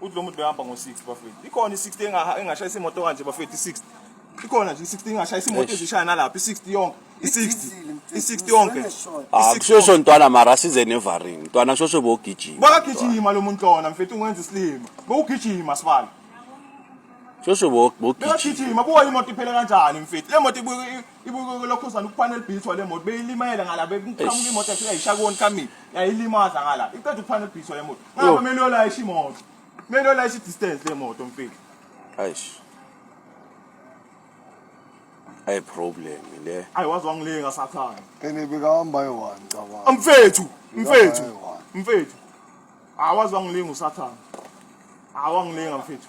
uthi lo muntu behamba ngo-60 bafethu ikhona i-60 engashayisa imoto kanje bafethu i-60 ikhona nje i-60 engashayisa imoto ezishaya nalapha i-60 yonke i-60 i-60 yonke ah, kushosho ntwana mara size nevaring ntwana shosho bogijima bakagijima lo muntu lona mfethu ungenza isilima bowugijima sibala shosho bogijima buka imoto iphele kanjani mfethu le moto ibukeke lokho uzana ukuphana elibhithwa le moto beyilimayela ngala bekuqhamuka imoto yafika yishaya konkhamini yayilimaza ngala iqeda ukuphana elibhithwa le moto ngaba kumele uyolayisha imoto kumele uyolayisha i-distance le moto mfethu ayish ayi problem le ayi waze wangilinga sathane ene bekahamba yohani cabanga mfethu mfethu mfethu awaze wangilinga usathane awangilinga mfethu